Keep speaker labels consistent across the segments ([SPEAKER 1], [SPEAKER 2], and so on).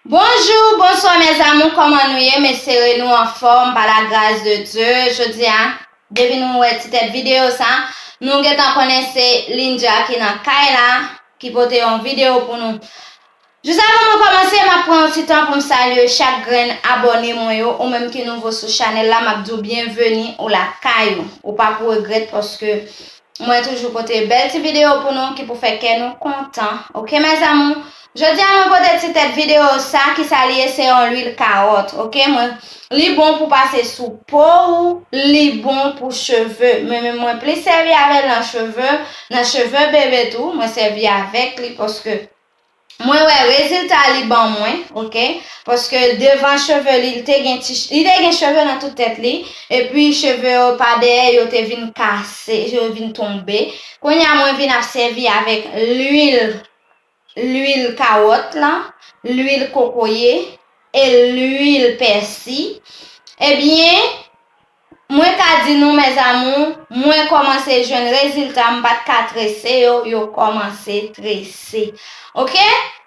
[SPEAKER 1] Bonjour bonswa mes amour koman nou ye m esere nou anfom pa la gras de Dieu jodia depi nou wè ti tèt video sa nou gentan konnen se Lindya ki nan kay la ki pote yon video pou nou jus avan mwen komanse map pran yon ti tan poum salye chak grenn abone mwen yo ou menm ki nouvo sou chanèl la map diw byenveni ou lakay ou ou pap regrèt paske Mwen toujou pote bèl ti video pou nou ki pou fè kè nou kontan ok mes amour jodia mwen pote ti tèt video sa kisa li ye se yon lwil karòt ok mwen li bon pou pase sou po ou li bon pou cheve men mwen plis sèvi avèl nan cheve nan cheve bebe tou mwen sèvi avèk li paske Mwen wè rezilta li ban mwen ok paske devan cheve li li te gen ti li te gen cheve nan tout tèt li epi cheve yo pa dèyè yo te vin kase yo vin tonbe kounye a mwen vin ap sèvi avèk lwil lwil kawòt la lwil kokoye e lwil pèsi ebyen Mwen ka di nou mes amour mwen komanse jwenn rezilta m pat ka trese yo yo komanse trese ok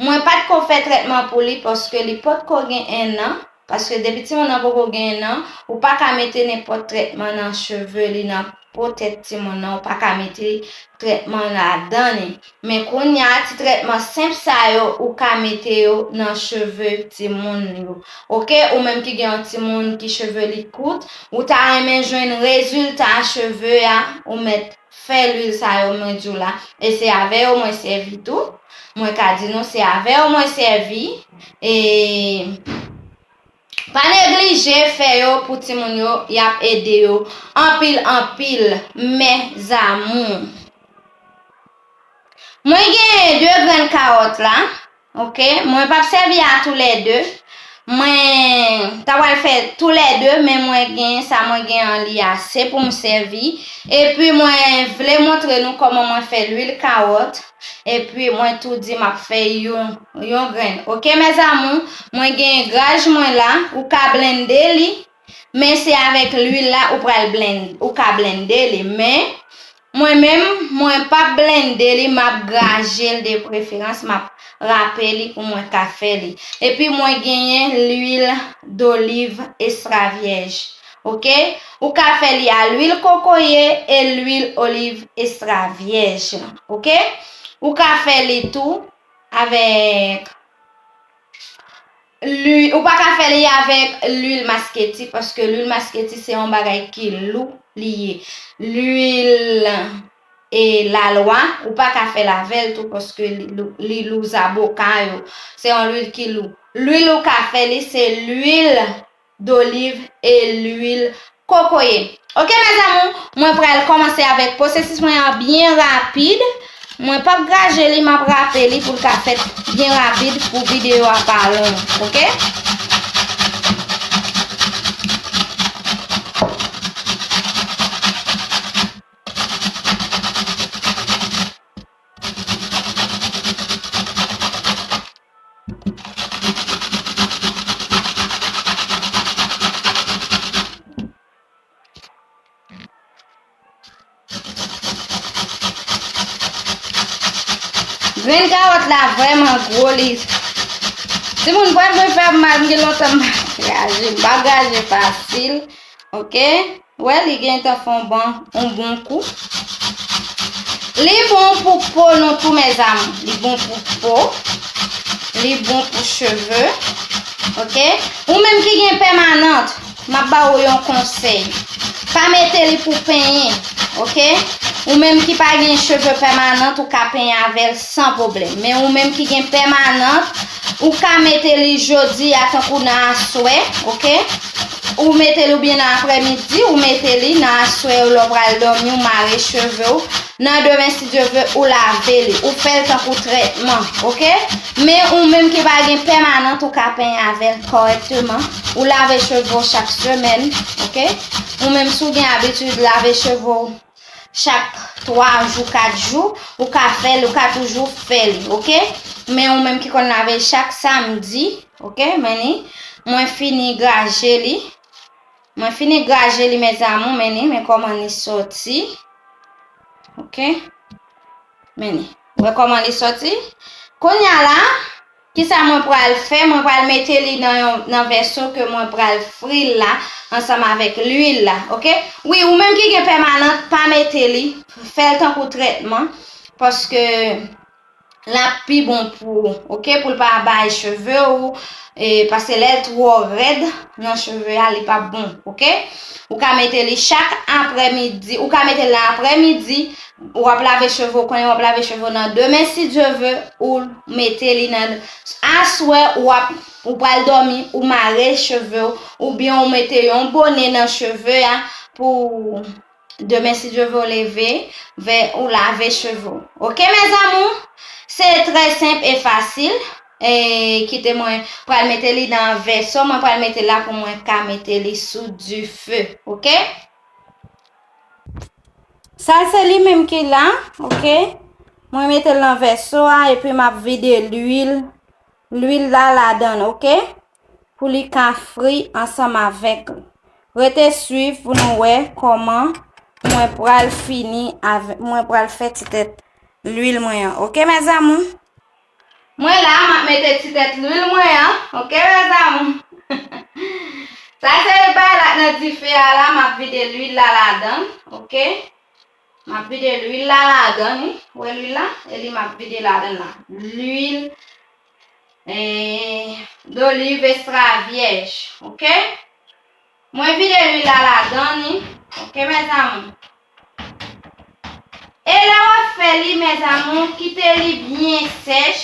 [SPEAKER 1] mwen pat ko fè trètman pou li paske li pot ko gen 1 an paske depi timoun nan poko gen 1 an ou paka mete nenpot trètman nan cheve li nan po tèt timoun nan ou paka mete trètman ladan li. Men kounya ti trètman senp sa yo ou ka mete yo nan cheve timoun yo ok ou menm ki gen yon timoun ki cheve li kout ou ta renmen jwenn rezilta cheve a ou mèt fè lwil sa yo mwen diw la e se avè yo mwen sèvi tou mwen ka di nou se avè yo mwen sèvi e Pa neglije fè yo pou timoun yo yap ede yo anpil anpil mes amours. Mwen genyen 2 grenn kawòt la ok mwen pap sèvi a tou lè 2 mwen ta pral fè tou lè 2 men mwen genyen sa mwen gen an li ase poum sèvi epi mwen vle montre nou kòman mwen fè lwil kawòt. Epi mwen tou di map fè yon yon grenn ok mes amours mwen gen graj mwen la ou ka blende li men se avèk lwil la ou pral blend ou ka blende li men mwen menm mwen pap blende li map grajel de preferans map rape li pou mwen ka fè li epi mwen genyen lwil doliv estra vyèj Ok ou ka fè li a lwil kokoye e lwil oliv estra vyèj ok ou ka fè li tou avèk ou pa ka fè li avèk lwil masketi paske lwil masketi se yon bagay ki lou li ye lwil e lalwa ou pa ka fèl avèl tou paske li lou zaboka yo se yon lwil ki lou lwil ou ka fè li se lwil. doliv e lwil kokoye ok mes amour mwen pral komanse avèk posesis mwen an byen rapid mwen pap graje li map rape li poul ka fèt byen rapid pou video a pa long ok Grenn kawòt la vrèman gwo li. Timoun pral mwen fèm mal, m gen lontan m pa graje, m pa graje fasil, ok. Wè li gentan fon bon on bon kou. Li bon pou po nou tou mes amour. Li bon pou po. Li bon pou cheve. Ok. Ou menm ki gen pèmanant. Map ba ou yon konsey. Pa mete li pou penyen. Ok. Ou menm ki pa gen cheve pèmanant. Ou ka penyen avel san problem. Men ou menm ki gen pèmanant. Ou ka mete li jodi a tankou nan aswe. Ok. Ou metel ou byen nan aprè midi ou mete li nan aswè yo lèw pral domi ou mare chevew nan demen si Dye vle ou lave li ou fèl tankou trètman ok men ou menm ki pa gen pèmanant ou ka penyen avèl kòrèkteman ou lave chevew chak semèn ok ou menm si w gen abitid lave chevew chak 3 jou 4 jou ou ka fèl ou ka toujou fèl ok men ou menm ki konn lavel chak samdi ok men ni mwen fini graje li mwen fini graje li mes amour men ni men koman ni soti ok men ni wè koman li soti konya la Kisa mwen pral fè? Mwen pral mete li nan yon nan vèso ke mwen pral fril la ansanm avèk lwil la ok wi ou menm ki gen pèmanant pa mete li fèl tankou trètman paske lap pi bon pou ou ok poul pa bay cheve ou paske lèl twò rèd nan cheve a li pap bon ok ou ka mete li chak aprè midi ou ka mete la aprè midi Ou ap lave cheve ou konnen ou ap lave cheve ou nan demen si Dieu veut ou mete li nan aswè ou ap ou pral dòmi ou mare cheve ou oubyen ou mete yon bone nan cheve a pou demen si Dieu veut ou leve vè ou lave cheve ou ok mes amours se trè senp e fasil e kite mwen pral mete li nan vèso mwen pral mete la pou mwen ka mete li sou dife ok. Sa se li menm ki la, ok. Mwen mete lan vèso a epi map vide l'huil. L'huil la la dan, ok. Pou li ka fri ansanm avèk. Rete suiv pou nou wè koman mwen pral fini avèk, mwen pral fè ti tèt l'huil mwen an, ok mè zamou. Mwen la map mete ti tèt lwil mwen an ok mes amours sa se bay la k nan dife a la map vide lwil la ladan ok map vide lwil la ladan li wè lwil la e li map vide ladan la lwil eh, d'olive extra vierge ok. Mwen vide lwil la ladan li ok mes amour. E lè wap fè li mes amour kite li byen sèch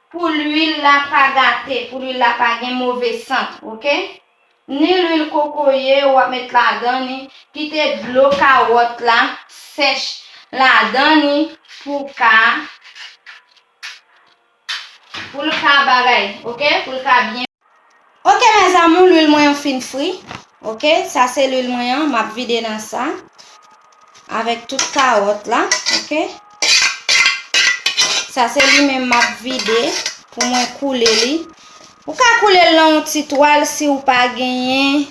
[SPEAKER 1] pou lwil la pa gate pou lwil la pa gen move sant ok ni lwil kokoye wap met ladan li kite dlo kawòt la sèch ladan li pou ka Poul ka bagay ok poul ka byen. Ok mes amour lwil mwen an fin fri ok sa se lwil mwen an map vide nan sa avek tout karot la ok sa se li menm map vide pou mwen koule li ou ka koule l nan yon ti twal si ou pa genyen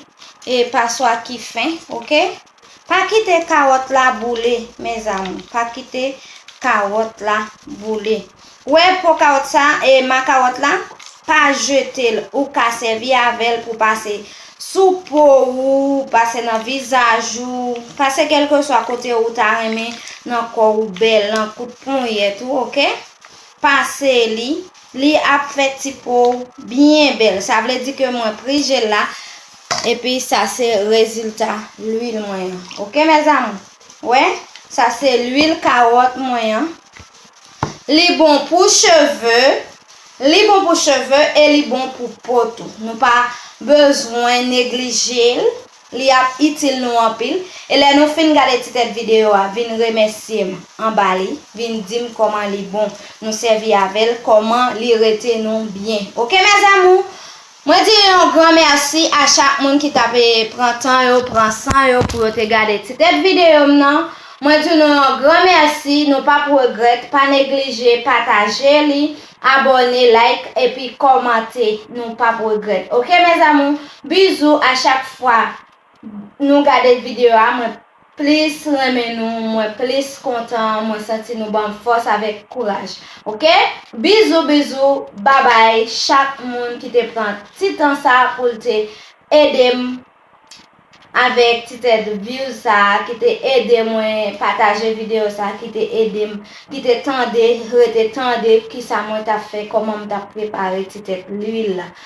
[SPEAKER 1] e paswa ki fen ok. Pa kite kawòt la boule mes amour pa kite kawòt la boule wè po kawòt sa e ma kawòt la pa jetel ou ka sèvi avèl pou pase sou po ou pase nan vizaj ou pase kelkeswa kote ou ta renmen nan kò ou bèl nan kout ponyèt ou ok pase li li ap fè ti po ou byen bèl sa vle di ke mwen pri jel la. Epi sa se rezilta lwil mwen an ok mes amour wè sa se lwil kawòt mwen an li bon pou cheve li bon pou cheve e li bon pou po tou nou pa bezwen neglijel li ap itil nou anpil e lè nou fin gade ti tèt video a vin remèsyem anba li vin dim kòman li bon nou sèvi avèl kòman li rete nou byen ok mes amour. Mwen di yon gran mèsi a chak moun ki ta pe pran tan yo, pran san yo pou yo te gade ti tèt videyo m nan. Mwen di nou yon gran mèsi, nou p ap regrèt, pa neglije pataje li, abòne, like epi kòmante, nou p ap regrèt ok mes amours, bizou a chak fwa. Nou gade video a mwen plis renmen nou mwen plis kontan mwen santi nou banm fòs avèk kouraj ok bizou bizou babay chak moun ki te pran ti tan sa poul te edem avèk ti tèt views sa ki te ede mwen pataje video sa ki te edem ki te tande rete tande kisa mwen tap fè kòman m tap prepare ti tèt lwil la.